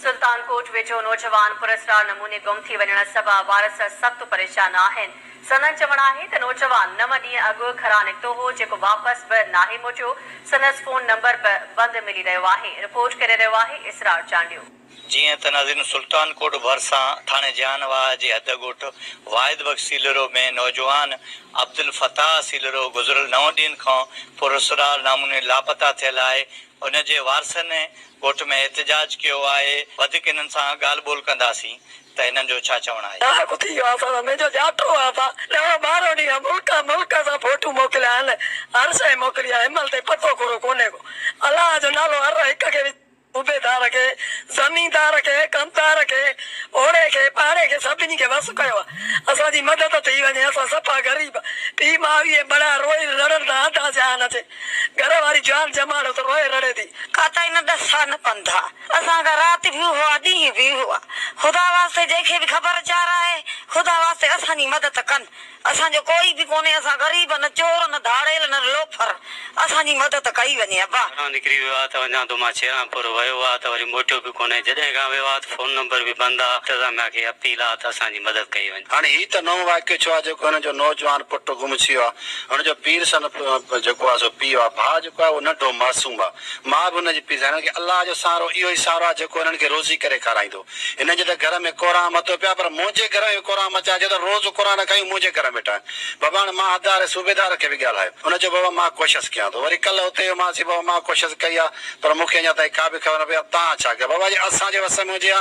سلطان ڪوٽ ويجهو نوجوان پراسرار نموني گم ٿي وڃڻ سبب وارث سخت پريشان آهن، سندن چوڻ آهي ته نوجوان نو ڏينهن اڳ گهران نڪتو هو جيڪو واپس به ناهي موٽيو، سندس فون نمبر به بند ملي رهيو آهي، رپورٽ ڪري رهيو آهي اسرار چانڊيو. جيئن ته ناظرين سلطان ڪوٽ ڀرسان ٿاڻي جيان واهه جي حد ڳوٺ واحد بخش سيلرو ۾ نوجوان عبدالفتاح سيلرو گذريل نو ڏينهن کان پراسرار ناموني لاپتا ٿيل آهي هن جي وارثن ڳوٺ ۾ احتجاج ڪيو آهي، وڌيڪ هنن سان ڳالهه ٻولهه ڪنداسين ته هنن جو ڇا چوڻ آهي. ڏاهه ڪٿي ويو آسان سان منهنجو جاٽو آ با ڏاهه ٻارهن ڏينهن کان ملڪان ملڪان سان فوٽو موڪليا آهن هر شئي موڪلي آهي هنمهل تائين پتو ڪورو ڪونهي ڪو الله جو نالو هر هڪ کي وجهي صوبيدار کي زميندار کي ڪمدار کي اوڙي کي پاڙي کي سڀني کي وس ڪيو آ اسان جي مدد ٿي وڃي اسان صفا غريب پي ماء ويهي بڙا روئي رڙڻ تان آڌا جهان اچي گهر واري جان ڄماڙيو ته روئي رڙي ٿي. ڪاتا هن ڏس سا نه پنڌا اسان کان رات به هئا ڏينهن به هئا خدا واسطي جنهن کي به خبر چار آهي خدا واسطي اسان جي مدد ڪن اسان جو ڪوئي به ڪونهي اسان غريب نه چور نه ڌاڙيل نه لوفر اسان جي مدد ڪئي وڃي ابا. گهران نڪري ويو آ ته وڃان ٿو مان ڇيران پور ويو آ ته وري موٽيو به ڪونهي جڏهن کان ويو آ ته فون نمبر به بند آ انتظاميا کي اپيل آ ته اسان جي مدد ڪئي وڃي. هاڻي هي ته نئون واقعو ٿيو آهي جيڪو هن جو نوجوان پٽ گم ٿي ويو آهي. هن جو پير سندس جيڪو آهي سو پيء آهي. ڀاء جيڪو آهي اهو ننڍو معصوم آهي. ماء به هن جي پيڙ سان. هن کي الله جو سهارو اهو ئي سهارو آهي جيڪو هنن کي روزي ڪري کارائيندو. هنن جي ته گهر ۾ ڪورانء متو پيو آهي پر منهنجي گهر ۾ به ڪورانء مچائي جو ته روز ڪورانء نه کائيون منهنجي گهر ۾ ويٺا آهن. بابا هاڻي مان حدار جي صوبيدار کي به ڳالهايو. هن چيو بابا مان ڪوشس ڪيان ٿو. وري ڪلهه اتي ويو مانسين بابا مان ڪوشس ڪئي آهي پر مون کي اڃا تائين ڪا به خبر نه پئي آهي. توهان ڇا ڪيو؟ بابا جي اسان جي وس ۾ هجي ها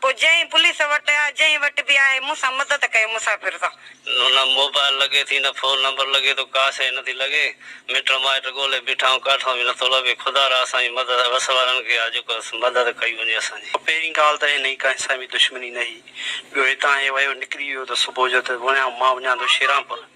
پوء جئين پوليس وٽ آ جئين وٽ به آهي مون سان مدد ڪيو مسافر سان. نه موبائل لڳي ٿي نه فون نمبر لڳي ٿو ڪا شئي نٿي لڳي مٽ مائٽ ڳولي بيٺا آهيون ڪاٺئون به نٿو لڀي خدا را اسان جي مدد وس وارن کي آ جيڪو مدد ڪئي وڃي اسان جي. پهرين ڳالهه ته هن جي ڪنهن سان به دشمني نه هئي ٻيو هتان هي ويو نڪري ويو ته صبح جو ته وڃان مان وڃان ٿو شيرانپور.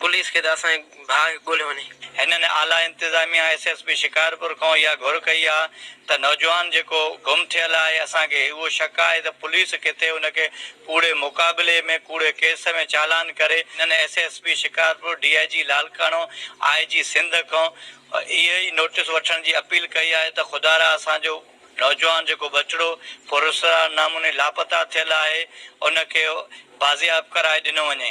پوليس کي ته اسان جي ڀاء کي ڳوليو وڃي. هنن اعليٰ انتظاميا ايس ايس پي شڪارپور کان اها گهر ڪئي آهي ته نوجوان جيڪو گم ٿيل آهي اسان کي اهو شڪ آهي ته پوليس ڪٿي ان کي ڪوڙي مقابلي ۾ ڪوڙي ڪيس ۾ چالان ڪري هنن S S P Shikarpur D I G Larkana I G Sindh کان اهي ئي نوٽيس وٺڻ جي اپيل ڪئي آهي ته خدارا اسان جو نوجوان جيڪو ٻچڙو پراسرار ناموني لاپتا ٿيل آهي ان کي بازياب ڪرائي ڏنو وڃي.